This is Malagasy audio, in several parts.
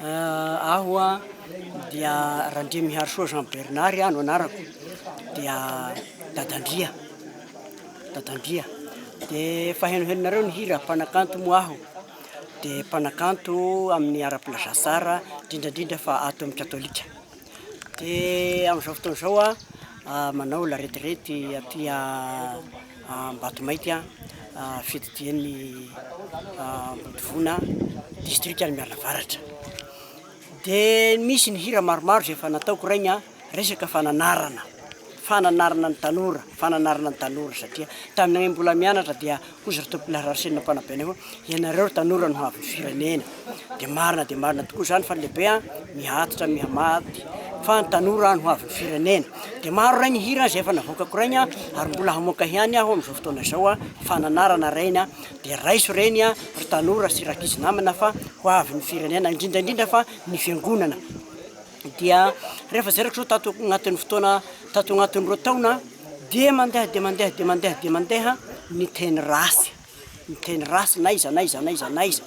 Aho dia Randriamiharisoa Jean Bernard no anarako, dia dadandria, dadandria, de efa henohenonareo ny hira mpanakanto moa aho, de mpanakanto amin'ny ara-pelazaha tsara, indrindra indrindra fa ato amin'ny katolika. Dia amin'izao fotoana izao aho manao la retraite aty Ambatomaika fididian'ny Ambodivona distrikan'i Mialavaratra. Dia misy ny hira maromaro izay efa nataoko raigny a, resaka fananarana, fananarana ny tanora, fananarana ny tanora satria taminay mbola mianatra dia Hoy zareo tao Pilararcene mpanabe anay hoe ianareo ry tanora no havin'ny firenena dia marina dia marina tokoa izany fa ny lehibe an mihatitra mihamaty fa ny tanora an no havin'ny firenena dia maro rainy hira izay efa navoakako rainy an ary mbola hamoaka ihany aho amin'izao fotoana izao an fananarana rainy an dia raiso reny an ry tanora sy rakizy namana fa ho avin'ny firenena indrindra indrindra fa ny fiangonana dia rehefa zay ratrao tato agnatin'ny fotoana tato agnatin'ny roa taona dia mandeha dia mandeha dia mandeha dia mandeha ny teny ratsy ny teny ratsy na iza na iza na iza na iza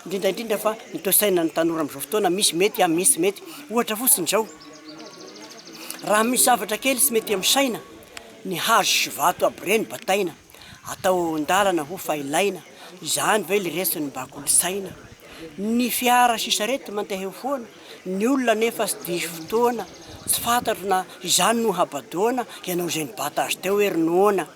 indrindra indrindra fa ny toe-tsaina ny tanora amin'izao fotoana misy mety a misy mety ohatra fotsiny izao raha misy zavatra kely tsy mety amin'ny saina ny hazo sy vato aby ireny bataina atao ao an-dalana ho fa ilaina izany ve le resin'ny bakolosaina ny fiara sy sarety mandeha eo foana Ny olona anefa tsy diso fotoana, tsy fantatro na izany no habadoana ianao izay nibata azy teo ery noana.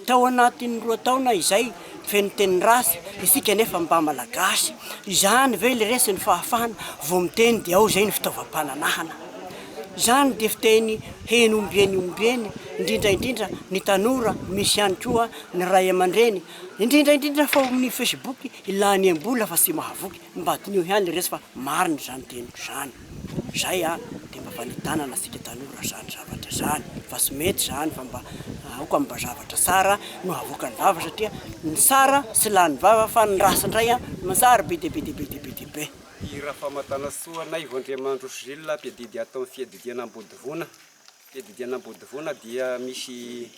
Tao anatin'ny roa taona izay feno teny ratsy isika nefa mba malagasy. Izany ve le resin'ny fahafahana vao miteny dia ao zay ny fitaovam-pananahana. Izany dia fiteny heno ombieny ombieny indrindra indrindra ny tanora misy ihany koa ny ray aman-dreny indrindra indrindra fa ao amin'ny facebook ilaniam-bola fa tsy mahavoky. Mba diniho ihany resy fa marina izany teniko izany. Izay an, dia mba fanitanana antsika tanora izany zavatra izany fa tsy mety izany fa mba aoka mba zavatra tsara no avoakan'ny vava satria ny tsara tsy lany vava fa ny ratsy indray an no tsara be dia be dia be dia be dia be. I Rafamatanasoa Naivo Andriamandroso Gilles mpiadidy ato amin'ny fiadidiana Ambodivona. Fiadidiana Ambodivona dia misy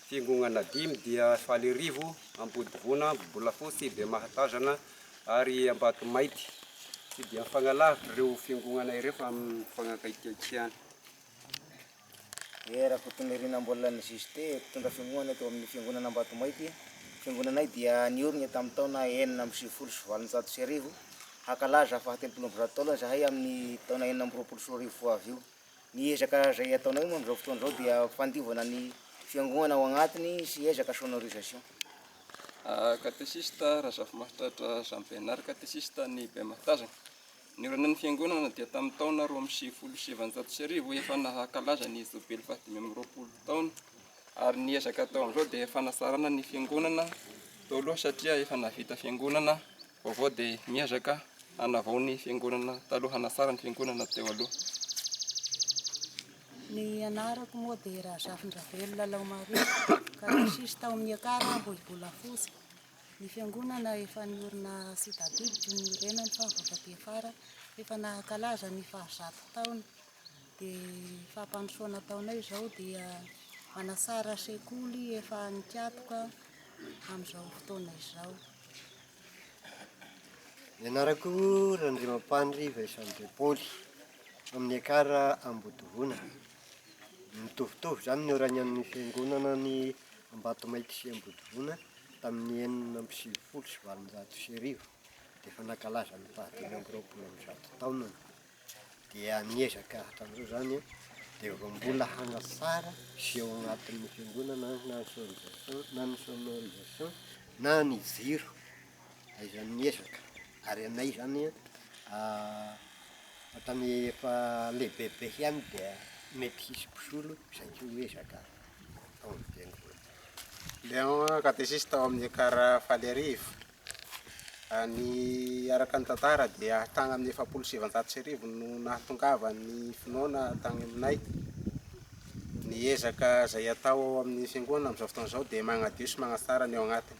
fiangonana dimy dia Falirivo, Ambodivona, Bolafotsy, Bemahatazana, ary Ambatomaity tsy dia mifagnalavitra ireo fiangonana ireo fa amin'ny fagnakaikaikiana. Dia Rakotonirina Ambolan'ny Juste, mpitondra fiangonana teo amin'ny fiangonana Ambatomaity, Fiangonanay dia niorina tamin'ny taona enina amby sivifolo sy valonjato sy arivo, hakalaza fahatelopolo amby zato taona izahay amin'ny taona enina amby roapolo sy roa arivo ho avy io. Ny ezaka izay ataonay moa amin'izao fotoana izao dia fandiovana ny fiangoana ao agnatiny sy ezaka sonorisation. Katesista, Razafimahatratra Jean Bernard, Katesista any Bematazana. Ny olanan'ny fiangonana dia tamin'ny taona roa amby sivifolo sy sivinjato sy arivo efa nahakalaza ny jobily fahadimy amby roapolo taona ary ny ezaka atao amin'izao dia fanatsarana ny fiangonana tao aloha satria efa nahavita fiangonana Vaovao dia miezaka hanavao ny fiangonana taloha, hanasara ny fiangonana teo aloha. Ny anarako moa dia Razafindravelo Lalaomaria, katesisty tao amin'ny Ekar Ambohibolafotsy. Ny fiangonana efa niorina sy tadidy no niorenany fa vao taty afara efa nankalaza ny fahazato taona. Dia fampandrosoana ataonay izao dia manasara sekoly efa nikatoka amin'izao fotoana izao. Ny anarako Randriamampandry Vincent De Paoly, amin'ny Ekar Ambotovoana. Mitovitovy izany ny oragnan'ny fiangonana ny Ambatomainty sy Ambotovoana tamin'ny enina amby sivifolo sy valonjato sy arivo dia efa nankalaza ny fahadimy amby roapolo amin'ny zato taonany. dia miezaka hatramin'izao izany a, dia vao mbola hanatsara sy ao anatin'ny fiangonana na ny sonorisation na ny sonorisation na ny jiro, dia izany miezaka, ary anay izany a hatrany efa lehibebe ihany dia mety hisy mpisolo izay tsy ho ezaka ao amin'ny fiangonana. Ilay katesisita ao amin'ny ekar faly arivo. Ny araka ny tantara dia tany amin'ny efapolo sy sivanjato sy arivo no nahatongavan'ny finoana tany aminay. Ny ezaka izay atao ao amin'ny fiangonana amin'izao fotoana izao dia manadio sy manatsara ny ao anatiny.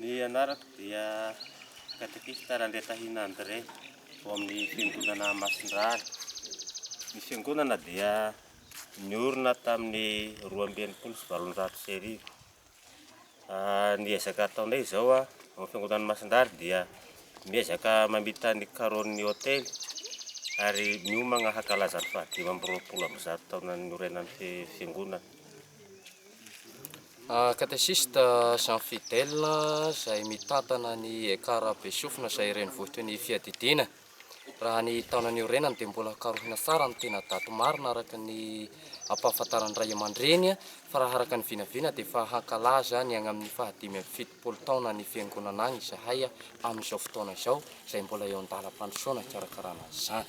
Ny anarako dia Katekista Randriatahina André, ao amin'ny Fiangonana Masindrary. Ny Fiangonana dia niorina tamin'ny roa amby enimpolo sy valonjato sy arivo. Ny ezaka ataonay izao ao amin'ny Fiangonana Masindrary dia miezaka mamita ny karonin'ny hotely ary miomagna hankalaza ny fahadimy amby roapolo amby zato taona niorenan'ny Fiangonana. Katesista Jean Fidèle izay mitantana ny Ekar Besofina izay renivohitry ny Fiadidiana. Raha ny taona niorenany dia mbola karohina tsara ny tena daty marina araka ny ampahafantaran'ny ray aman-dreny fa raha araka ny vinavina dia efa hankalaza ny any amin'ny faha dimy amby fitopolo taona ny Fiangonana any izahay amin'izao fotoana izao izay mbola eo an-dalam-pandrosoana hikarakarana an'izany.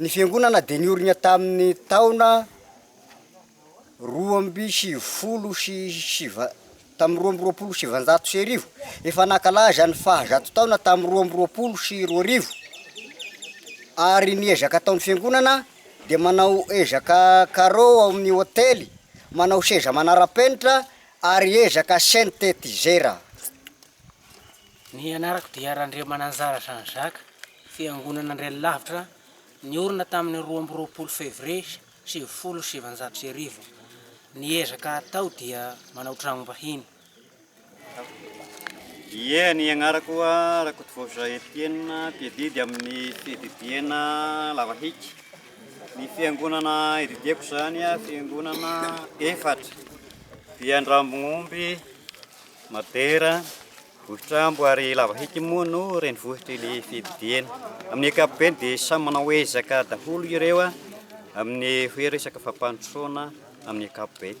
Ny fiangonana dia niorina tamin'ny taona roa amby sivifolo sy siva tamin'ny roa amby roapolo sy sivanjato sy arivo. Efa nankalaza ny fahazato taona tamin'ny roa amby roapolo sy roa arivo ary ny ezaka ataon'ny fiangonana dia manao ezaka carreau ao amin'ny hotely, manao seza manara-penitra ary ezaka synthétiseur. Ny anarako dia Randriamananjara Jean Jacques, Fiangonana Andriany Lavitra niorina tamin'ny roa amby roapolo Février sivifolo sy sivinjato sy arivo. Ny ezaka atao dia manao tranom-bahiny. Ie, ny agnarako Rakotovavy Etienne, mpiadidy amin'ny fiadidiana lavahiky. Ny fiangonana ididiako izany, fiangonana efatra, Viandrambognomby, Madera, Vohitra ambo ary lava hiky moa no renivohitr'i Lefidihena. Amin'ny ankapobeny dia samy manao ezaka daholo ireo amin'ny hoe resaka fampandrosoana amin'ny ankapobeny.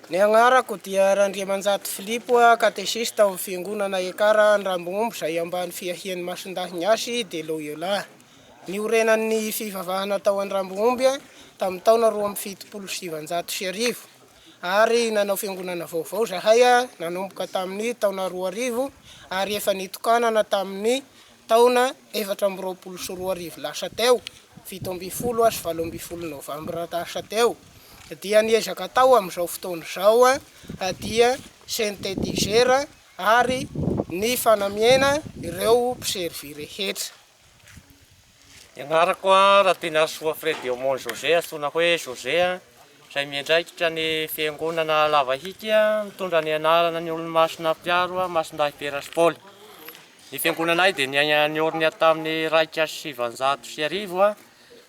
Ny agnarako dia Randriamanjato Filipo, katesista ao amin'ny Fiangonana Ekara Andrambomombo izay ambany fiahian'ny Masindahy Ignasy de Loyola. Niorenan'ny fivavahana tao Andrambomomby tamin'ny taona roa amby fitopolo sy sivanjato sy arivo. ary nanao fiangonana vaovao izahay nanomboka tamin'ny taona roa arivo ary efa nitokanana tamin'ny taona efatra amby roapolo sy roa arivo lasa teo, fito ambin'ny folo sy valo ambin'ny folo novambra lasa teo, dia ny ezaka atao amin'izao fotoana izao dia synthétiseur ary ny fanamiana ireo mpiservy rehetra. Ny anarako Ratinarisoa Fred Eumond José antsoina hoe José izay miandraikitra ny fiangonana Lavahiky mitondra ny anarana ny Olomasina Mpiaro Masindahy Piera sy Paoly. Ny fiangonanay dia niorina tamin'ny iraika sy sivanjato sy arivo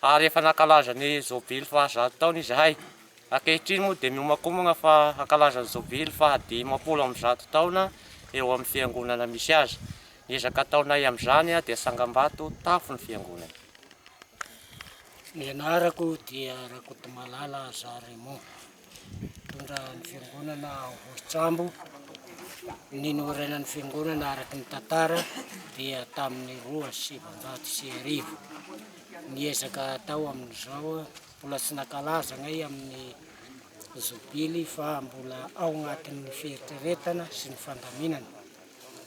ary efa nankalaza ny jobily fahazato taona izahay. Ankehitriny moa dia miomankomana fa hankalaza ny jobily fahadimampolo amby zato taona eo amin'ny fiangonana misy azy. Ny ezaka ataonay amin'izany dia sangambato tafo ny fiangonana. Ny anarako dia Rakotomalala Jean Raymond, mpitondra ny fiangonana ao Vohitsambo. Ny norainan'ny fiangonana araka ny tantara dia tamin'ny roa sy sivinjato sy arivo. Ny ezaka atao amin'izao, mbola tsy nankalaza anay amin'ny zobily fa mbola ao anatin'ny fieritreretana sy ny fandaminana.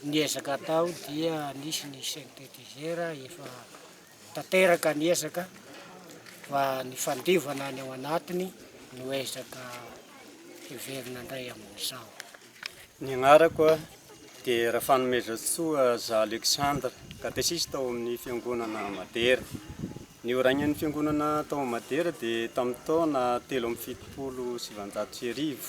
Ny ezaka atao dia nisy ny synthétiseur efa tanteraka ny ezaka fa ny fandiovana any ao anatiny no ezaka heverina indray amin'izao. Ny anarako dia Rafanomezantsoa Za Alexandre, katesista ao amin'ny Fiangonana Madera. Ny horaignan'ny Fiangonana tao Madera dia tamin'ny taona telo amby fitopolo sy sivanjato sy arivo.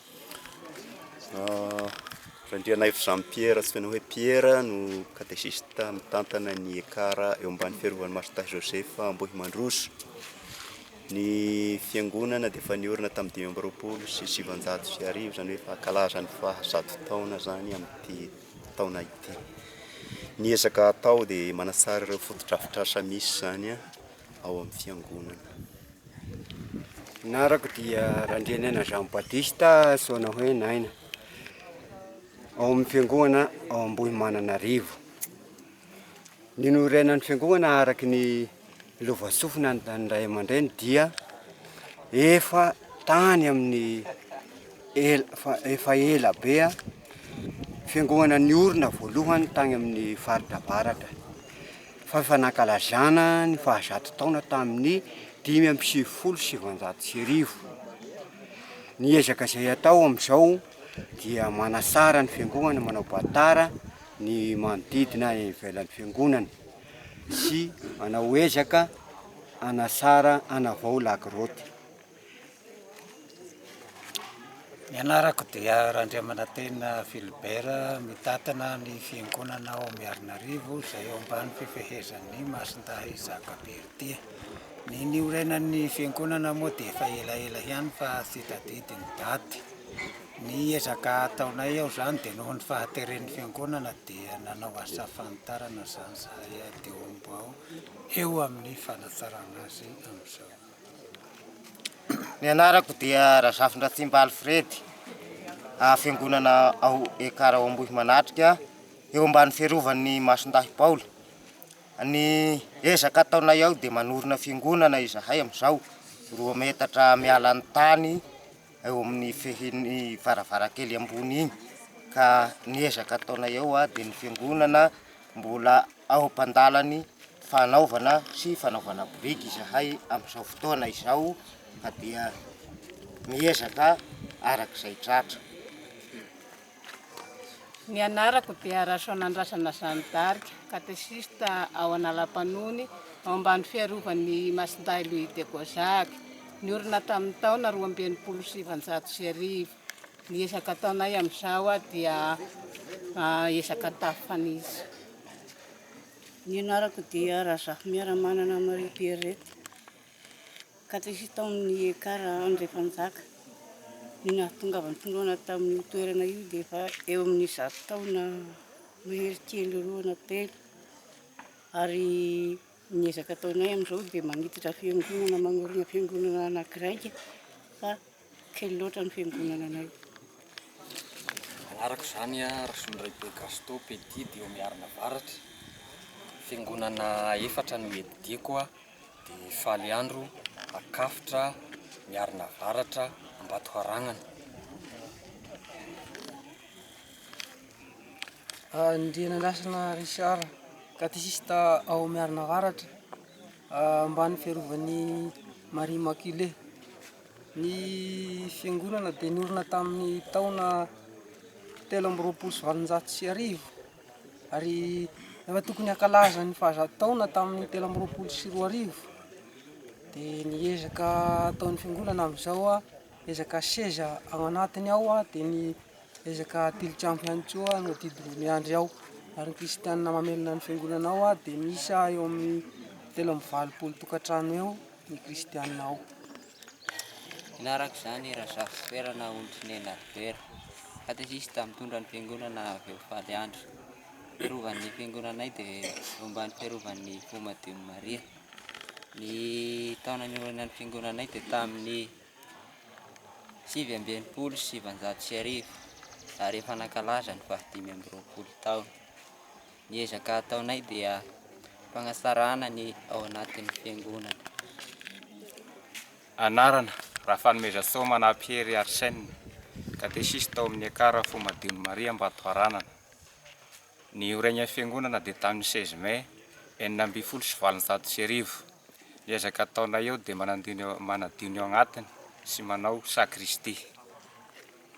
Randrianaivy Jean Pierre antsoina hoe Pierre no katesista mitantana ny ECAR eo ambany fiarovan'i Martha Joseph Ambohimandroso. Ny fiangonana dia efa niorina tamin'ny dimy amby roapolo sy sivanjato sy arivo, izany hoe efa hankalaza ny faha zato taona izany amin'ity taona ity. Ny ezaka atao dia manatsara ireo fotodrafitrasa misy izany ao amin'ny fiangonana. Anarako dia Randrianaina Jean Baptiste antsoina hoe Naina, ao amin'ny fiangonana ao Ambohimananarivo. Ninorenan'ny fiangonana araka ny lovasofina ny an'ny ray aman-dreny dia efa tany amin'ny ela fa efa ela be a, fiangonana niorina voalohany tany amin'ny faritra avaratra. fa efa nankalazana ny fahazato taona tamin'ny dimy amby sivifolo sy sivanjato sy arivo. Ny ezaka izay atao amin'izao dia manatsara ny fiangonana, manao batara ny manodidina eny ivelan'ny fiangonana sy manao ezaka hanatsara, hanavao lagrotte. Ny anarako dia Randriamanantena Philibert, mitatana ny fiangonana ao Miarinarivo izay ao ambany fifehezan'ny Masindahy Jacques Berthie. Ny niorenan'ny fiangonana moa dia efa elaela ihany fa tsy tadidy ny daty. Ny ezaka ataonay ao izany dia noho ny fahateren'ny fiangonana dia nanao asa fanitarana izany izahay aty Omby ao, eo amin'ny fanatsarana azy amin'izao. Ny anarako dia Razafindratsimba Alfred, fiangonana ao Ekara ao Ambohimanatrika, eo ambany fiarovan'ny Masindahy Paoly. Ny ezaka ataonay ao dia manorina fiangonana izahay amin'izao, roa metatra miala ny tany eo amin'ny fehin'ny varavarankely ambony iny, ka ny ezaka ataonay ao dia ny fiangonana, Mbola ao am-pandalan'ny fanaovana sy fanaovana biriky izahay amin'izao fotoana izao fa dia miezaka araka izay tratra. Ny anarako dia Rasoanandrasana Jeanne d'Arc, katesista ao Analampanony, ao ambany fiarovan'ny Masindahy Louis de Gozac. Niorina tamin'ny taona roa amby enimpolo sy sivinjato sy arivo. Ny ezaka ataonay amin'izao dia ezaka an-tafifanisa. Ny anarako dia Razafimearamanana Marie Pierrette, katesista ao amin'ny ECAR Andriafanjaka. Ny nahatonga ahy nitondroana tamin'io toerana io dia efa eo amin'ny zato taona mahery kely roa na telo. Ary ny ezaka ataonay amin'izao dia manitatra fiangonana, manorina fiangonana anakiraika fa Kely loatra ny fiangonana anay. Anarako izany a Rasolondraibe Gaston Petit dia eo Miarina Avaratra, fiangonana efatra no edideko a, dia Faly Andro, Akafotra, Miarina Avaratra, Ambatoharagnana. Andrianandrasana Richard, Katesista ao Miarina Avaratra, ambany fiarovan'i Marie Immaculée. Ny fiangonana dia niorina tamin'ny taona telo amby roapolo sy valonjato sy arivo ary rehefa tokony hankalaza ny fahazato taona tamin'ny telo amby roapolo sy roa arivo dia ny ezaka ataon'ny fiangonana amin'izao an, ezaka seza ao anatiny ao an, dia ny ezaka tilikambo ihany koa no adidin'i Miandry ao ary ny kristianina mamelona ny fiangonana ao dia miisa eo amin'ny telo amby valopolo tokantrano eo. ny kristiana ao. Ila araka izany Razafisoerana Ontinena Robert, katesista mitondra ny fiangonana avy ao Faly Andry. Fiarovan'ny fiangonanay dia eo ambany fiarovan'ny Fo Madion'i Maria. Ny taona niorenan'ny fiangonanay dia tamin'ny sivy amby enimpolo sy sivanjato sy arivo ary efa nankalaza ny fahadimy amby roapolo taona. Ny ezaka ataonay dia fanatsarana ny ao anatin'ny fiangonana. Anarana, Rafanomezantsoa Manapihery Arsène, katesista ao amin'ny Ekar Fo Madion'i Maria Ambatoharanana. Niorenan'ny fiangonana dia tamin'ny seize mai enina ambin'ny folo sy valonjato sy arivo. Ny ezaka ataonay eo dia manadio ny ao anatiny sy manao sakristia.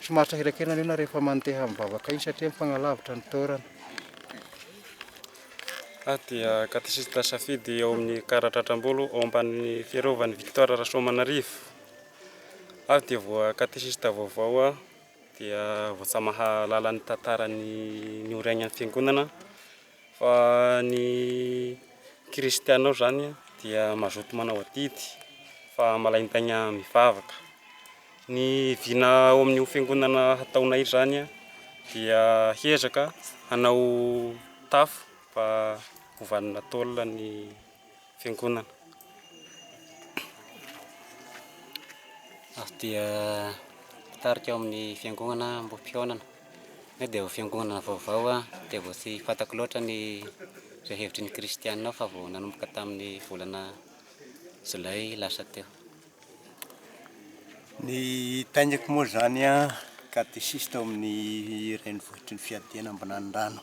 Tsy maharitra hirakena ny olona rehefa mandeha mivavaka iny satria mifagnalavitra ny toerana. Ahy dia katesista safidy ao amin'ny karatra Atrambolo ao ambanin'ny fiarovan'i Victor Rasoamanarivo. Aho dia voa katesista vaovao aho dia voatsamaha-lala ny tantaran'ny nioraignan'ny fiangonana. Fa ny kristiana ao izany dia mazoto manao adidy fa malain-taigna mivavaka. Ny vina ao amin'io fiangonana hataonay izany dia hiezaka hanao tafo fa gouvernetal ny Fiangonana. Aho dia mpitarika ao amin'ny fiangonana Ambohipihaonana. Nefa dia vao fiangonana vaovao aho dia vao tsy fantako loatra ny izay hevitry ny kristiana ao fa vao nanomboka tamin'ny volana jolay lasa teo. Ny hitaingako moa izany an, katesista ao amin'ny renivohitry ny fiadiana Ambinanirano.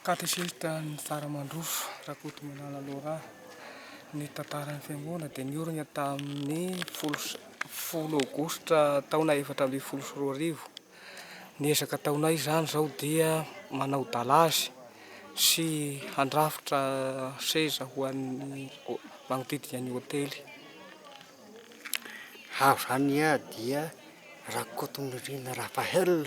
Katesista ny tsara mandroso, Rakotomalala Laurent. Ny tantaran'ny fiangonana dia niorina tamin'ny folo sy folo aogositra taona efatra ambin'ny folo sy roa arivo. Ny ezaka ataonay izany izao dia manao dalazy sy handrafitra seza ho an'ny manodidina ny hotely. Aho izany dia Rakotonirina Raphaël.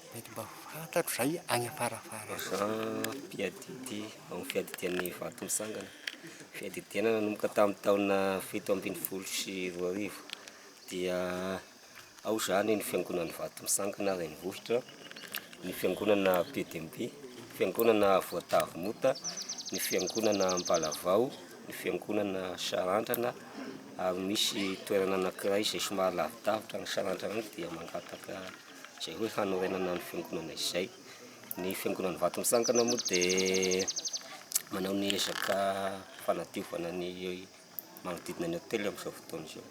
Mety mba fantatro zay any afarafara any. Za mpiadidy ao amin'ny fiadidian'ny vato mitsangana. Fiadidiana nanomboka tamin'ny taona fito ambin'ny folo sy roa arivo. Dia ao izany ny fiangonan'ny vato mitsangana renivohitra, ny fiangonana PDMB, fiangonana Voatavo Mota, ny fiangonana Ampalavao, ny fiangonana Sarandrana ary misy toerana anankiray izay somary lavidavitra ny Sarandrana dia mangataka Izay hoe hanorenana ny fiangonana izay. Ny fiangonan'i Vatomitsangana moa dia manao ny ezaka fanadiovana ny manodidina ny hotely amin'izao fotoana izao.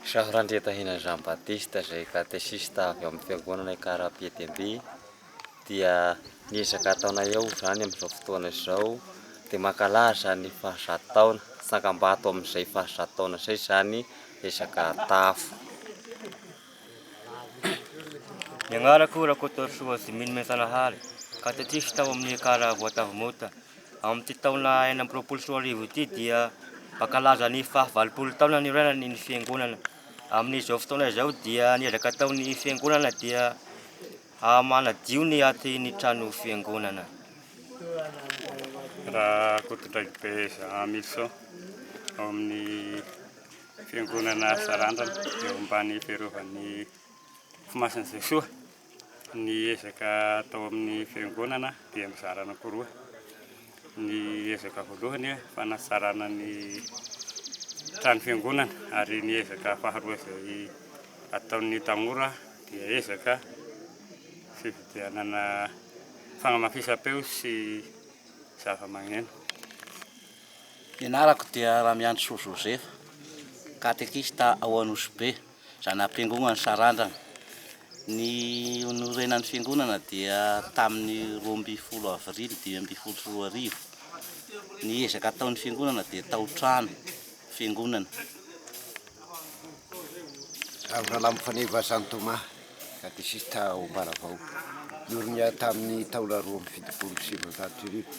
Jean Randriatahina Jean Baptiste izay katesista avy amin'ny fiangonana Ikara Ampiadiambe dia ny ezaka ataonay eo izany amin'izao fotoana izao dia mankalaza ny fahazato taona, tsangambato amin'izay fahazato taona izay izany ezaka atafo. Ny agnarako Rakotoarisoa Jimmy Mianjanahary, katekisy tao amin'ny ekar Voatavo Mota. Amin'ity taona enina amby roapolo sy roa arivo ity dia mankalaza ny faha valopolo taona niorenan'ny ny fiangonana. Amin'izao fotoana izao dia ny ezaka ataon'ny fiangonana dia Haha manadio ny aty ny trano fiangonana. Rakotondraikibe Jean Milson ao amin'ny fiangonana Sarandrana eo ambany fiarovan'ny Fo Masin'i Jesoa. Ny ezaka atao amin'ny fiangonana dia mizara anankiroa. Ny ezaka voalohany hoe fanatsarana ny trano fiangonana ary ny ezaka faharoa izay ataon'ny tanora dia ezaka fividianana fanamafisam-peo sy zava-magneno. Ny anarako dia Ramiandrisoa Joseph, katekista ao Anosibe. Izany ampiangonana sarandrana. Ny norenan'ny fiangonana dia tamin'ny roa ambin'ny folo avrily dimy ambin'ny folo sy roa arivo. Ny ezaka ataon'ny fiangonana dia tao-trano fiangonana. Raviralambo Faneva Jean Thomas, katesista ao Ambaravao. Norina tamin'ny taona roa amby fitopolo sy sivinjato sy arivo.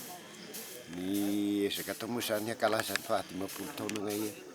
Ny ezaka atao moa izany hankalaza ny fahadimampolo taonanay.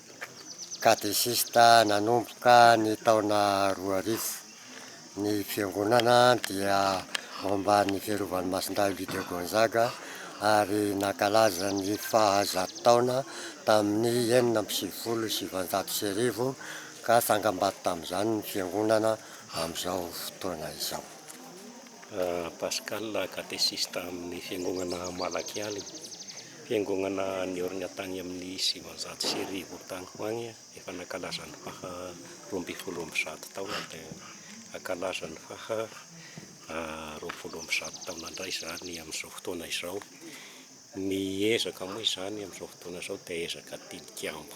Katesista nanomboka ny taona roa arivo. Ny fiangonana dia ao ambanin'ny fiarovan'i Masindahy Louis de Gonzaga ary nankalaza ny faha zato taona tamin'ny enina amby sivifolo sy sivinjato sy arivo ka tsangambato tamin'izany ny fiangonana amin'izao fotoana izao. Pascal, katesista amin'ny fiangonana Malakialina. Fiangonana niorina tany amin'ny sivinjato sy arivo tany ho any efa nankalaza ny faha roa ambin'ny folo amby zato taona dia hankalaza ny faha roapolo amby zato taona indray izany amin'izao fotoana izao. Ny ezaka moa izany amin'izao fotoana izao dia ezaka tilikambo.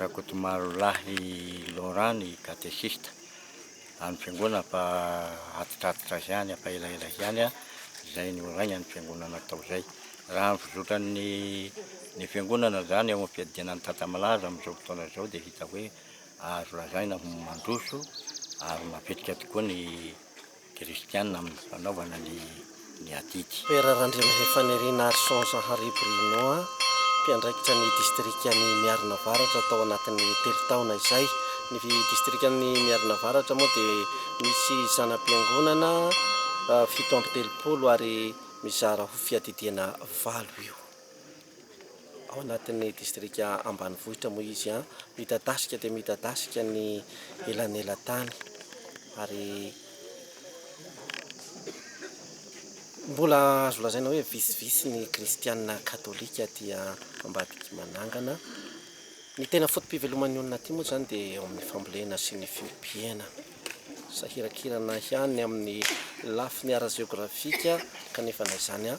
Rakotomarolahy Laurent ny katesista an'ny fiangonana mba hatitratitra azy ihany fa elaela ihany izay niorainan'ny fiangonana tao izay. Raha ny fizotran'ny ny fiangonana izany eo amin'ny fiadiana ny tantsa malaza amin'izao fotoana izao dia hita hoe azo lazaina ho mandroso ary mavitrika tokoa ny Kristiana amin'ny fanaovana ny adidy. Père Randrianahefanirinaharison Zahary Bruno, mpiandraikitra ny distrikan'i Miarina Avaratra tao anatin'ny telo taona izay. Ny distrikan'i Miarina Avaratra moa dia misy zana-piangonana fito amby telopolo ary mizara ho fiadidiana valo eo. Ao anatin'ny distrika ambanivohitra moa izy an, midadasika dia midadasika ny elanelan-tany ary mbola azo lazaina hoe vitsivitsy ny kristiana katolika aty ambadiky manangana. Ny tena foto-piveloman'ny olona aty moa izany dia eo amin'ny fambolena sy ny fiompiana. Sahiran-kirana ihany ny amin'ny lafiny ara-jeografika kanefa na izany an.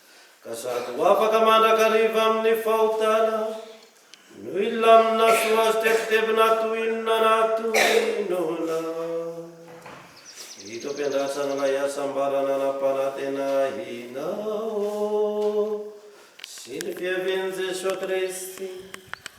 ka sady ho afaka mandrakariva amin'ny fahotana no hilamina soa azy tebitebina toy inona na toy inona. Ito ampiandrasana ilay hasambarana hanam-panantenanao sy ny fiavian'i Jesoa Kristy.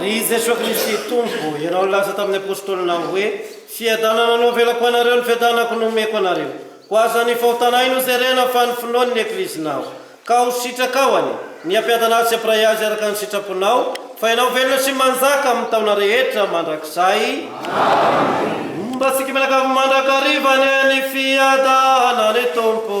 Ry Jesoa Kristy Tompo, Ianao nilaza tamin'ny Apôstôlinao hoe, Fiadanana no avelako anareo, ny fiadanako no omeko anareo. Koa aza ny fahotanay no jerena fa ny finoan'ny Eklezinao. Ka ho sitrakao anie, ny hampiadana azy sy hampiray azy araka ny sitraponao, fa Ianao velona sy manjaka amin'ny taona rehetra mandrakizay. Amena. Mba antsika mianakavy mandrakariva anie ny fiadanan'ny Tompo.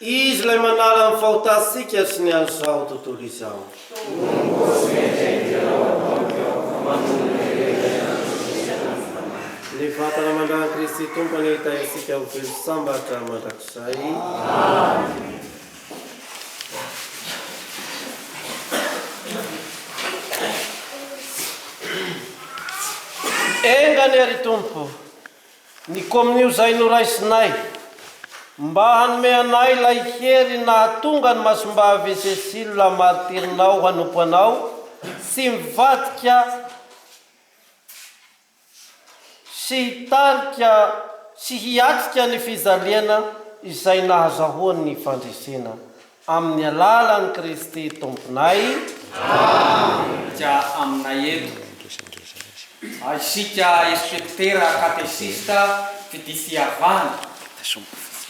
Izy ilay manala ny fahotantsika sy ny an'izao tontolo izao. Ny vatana mandran'i Kristy Tompo anie hitahirintsika ho velo sambatra mandrakizay. Enga anie ry Tompo. Ny kominio izay noraisinay mba hanome anay ilay hery nahatonga ny Masimbavy Cécile martirinao hanompo anao tsy mivadika sy hitarika sy hiatrika ny fijaliana izay nahazahoany ny fandresena Amin'ny alalan'i Kristy Tomponay. Amen. Aminay eto. Isika inspektera katesista mpitia fihavana,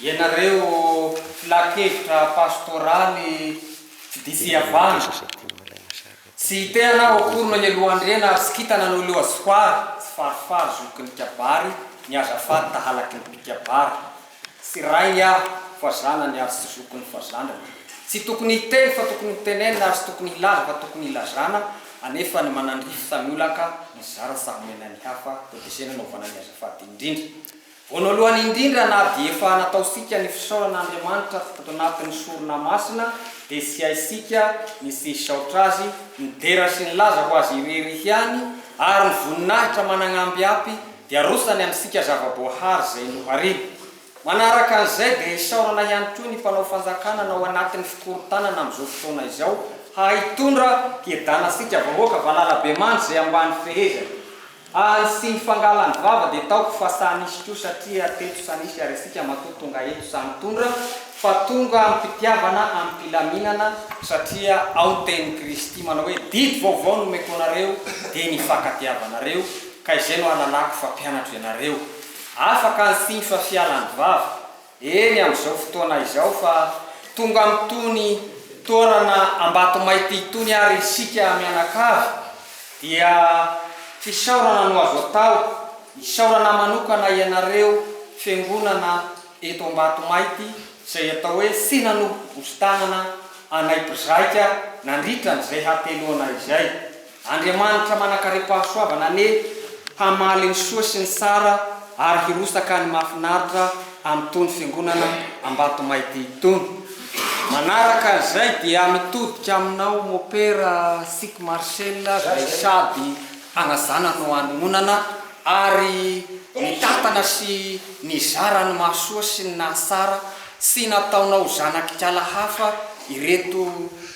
ianareo filan-kevitra pastoraly mpitia fihavana, Tsy te-hanao akory no nialohan'i Rena ary tsy kita nanao leo azy fary tsy farifary zoky ny kabary ny azy afary tahalaky ny mpikabary tsy rainy aho fa zanany ary tsy zokiny fa zandriny tsy tokony hiteny fa tokony hotenenina ary tsy tokony hilaza fa tokony hilazana anefa ny manandrify tany olaka nizara tsaha omena ny hafa tetezena naovana ny azy afady indrindra Voanalohany indrindra na dia efa nataosika ny fisaorana Andriamanitra ato anatin'ny sorona masina dia tsy haisika ny tsy hisaotra Azy midera sy nilaza ho Azy irery ihany ary ny voninahitra managnambiampy dia arosany amintsika zava-boahary izay nohariany. Manaraka an'izay dia isaorana ihany koa ny mpanao fanjakana na ao anatin'ny fikorontanana amin'izao fotoana izao hahay hitondra hiedana antsika vahoaka valalabemandry izay ambany fehezany. Ary sy ny fangalany vava dia taoko fa sa nisy koa satria teto sa nisy ary isika matoa tonga eto sa nitondra fa tonga amim-pitiavana amim-pilaminana satria ao ny tenin'i Kristy manao hoe didy vaovao no omeko anareo dia ny fankatiavanareo ka izay no hahalalako fa mpianatro ianareo afaka ny sy ny fa fialany vava Eny amin'izao fotoana izao fa tonga amin'itony toerana Ambatomaity itony ary isika mianakavy dia fisaorana no azo atao, isaorana manokana ianareo fiangonana eto Ambatomaity izay atao hoe Finanobobosi-tanana anay mpizaika nandritra an'izay hateloana izay. Andriamanitra manankarem-pahasoavana anie hamaly ny soa sy ny tsara ary hirosaka ny mahafinaritra amin'itony fiangonana Ambatomaity itony. Manaraka an'izay dia mitodika aminao Mopera Sic Marcel izay sady anazana no anononana ary nitantana sy nizara ny mahasoa sy ny nahatsara sy nataonao zanak'ikala hafa ireto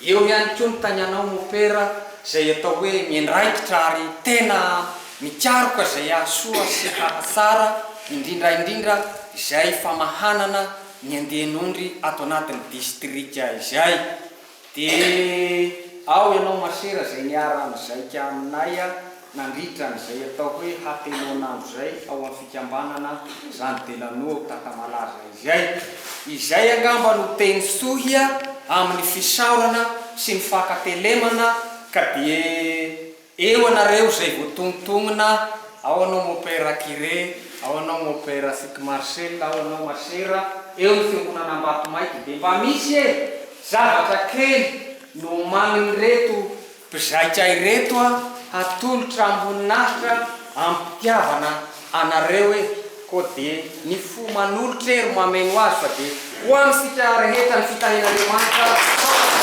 Eo ihany koa ny tagnanao mopera izay atao hoe miandraikitra ary tena mikaroka izay hahasoa sy hahatsara indrindra indrindra izay famahanana ny andian'ondry ato anatin'ny distrika izay dia ao ianao masera izay niara nizaika aminay Nandritra an'izay atao hoe hateloan'andro izay ao amin'ny fikambanana Jean Delano ao Takamalaza izay, izay angamba no teny fitohia amin'ny fisaorana sy ny fankatelemana ka dia eo anareo izay voatonontonona, ao anao mon père Curé, ao anao mon père Fick Marcel, ao anao ma sœur, eo ny Fiangonana Ambatomaika dia mba misy e! zavatra kely no omanin'ireto Mpizaika ireto a hatolotra amboninahitra amim-pitiavana anareo e ko de ny fo manolotra e ro mameno azy fa de ho amintsika rehetra ny fitahian'Andriamanitra ao an-tranontsika.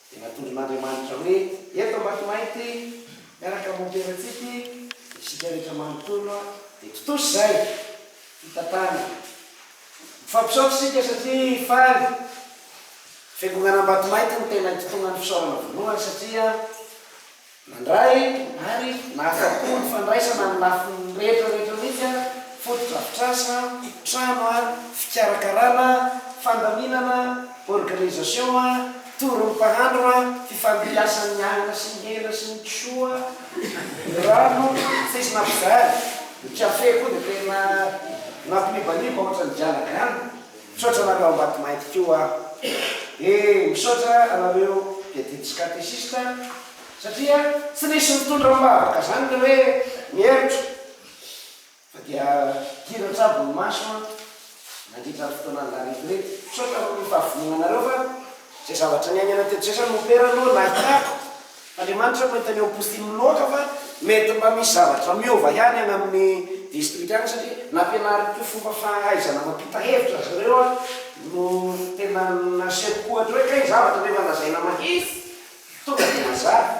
Dia natolon'Andriamanitra hoe, Eto Ambatomainty, miaraka amin'ny Emperantsika, dia isika rehetra manontolo dia tontosa izay fitantanana. Mifampisaotra isika satria faly. Fiangonan'Ambatomainty no tena itontonan'ny fisaorana voalohany satria Nandray ary nahafapo ny fandraisana amin'ny lafiny rehetra rehetra mihitsy, fotodrafitrasa, trano, fikarakarana, fandaminana, organisation, tory ny mpahandro, fifandiasan'ny ny anana sy ny hena sy ny kisoa, ny rano, tsisy nampivary, ny café koa dia tena nampinibanimba ohatran'ny dialagana. Misaotra anareo ambatimainty ko a. E misaotra anareo mpiadidy sy katesista satria tsy nisy nitondra ambavaka zany le hoe mihemotra fa dia dira trabo ny maso an nandritra ny fotoanan la retraite. Misaotra am fahavononanareo fa zay zavatra niainana teto zay zany mopera aloha nahitako Andriamanitra mahita ny ao Postin miloaka fa mety mba misy zavatra miova ihany any amin'ny distrika any satria nampianariko fomba fahaizana mampita hevitra ry zareo aho no tena nasehoko ohatra hoe kay ny zavatra nefa lazaina mahitsy tonga dia mazava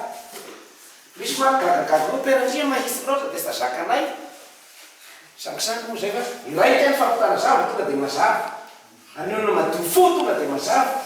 misy manko gagagaga hoe peratria mahitsy loatra dia tsy ta zakanay sangisangy moa zay fa iray teny fampitana zavatra tonga dia mazava ary ny olona madio fo tonga dia mazava.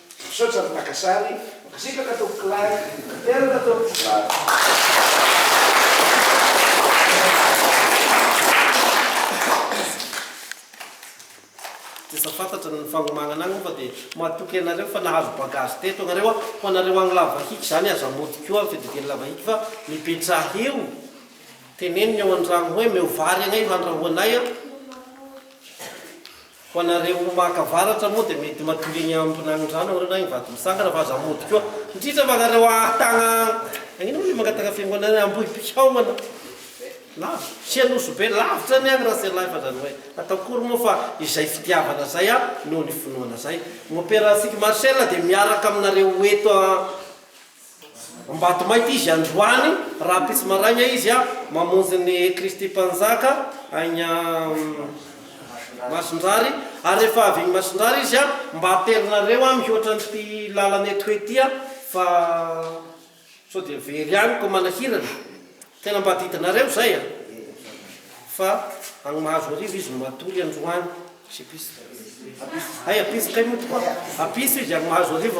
Misaotra ny mpaka sary. Mankasitraka tompoko lahy. Tanteraka tompoko lahy. Efa fantatra ny fagnomagnana agny fa dia matoky anareo fa nahazo bagage teto agnareo a! Ho anareo agny Lavahiky zany aza mody koa amin'ny fididian'i Lavahiky fa mipetraha eo! Teneniny ao an-dragno hoe meo vary agnay ho andrahoanay a! Ho anareo maka avaratra moa dia mety matory eny Ambonanondrano aho ireny any Vatomitsangana fa aza mody koa indrindra fa anareo ahatagna agnino moa le mangataka fiangonana Ambohipihaogana lava sy Anosibe lavitra anie agny Raselahy fa zany hoe atao akory moa fa izay fitiavana zay a noho ny finoana zay mopera Sic Marcel dia miaraka aminareo eto a Ambatomainty izy androany rahampitso maraina izy a mamonjy ny Kristy Mpanjaka agny Masindrary ary rehefa avy agny Masindrary izy a mba aterinareo a mihoatra an'ity lalana eto he ty a fa sao dia very agny koa manahirana tena mba adidinareo zay a fa agny Mahazoarivo izy no matory androany sy Ampitso hay Ampitso kay moa tokoa Ampitso izy agny Mahazoarivo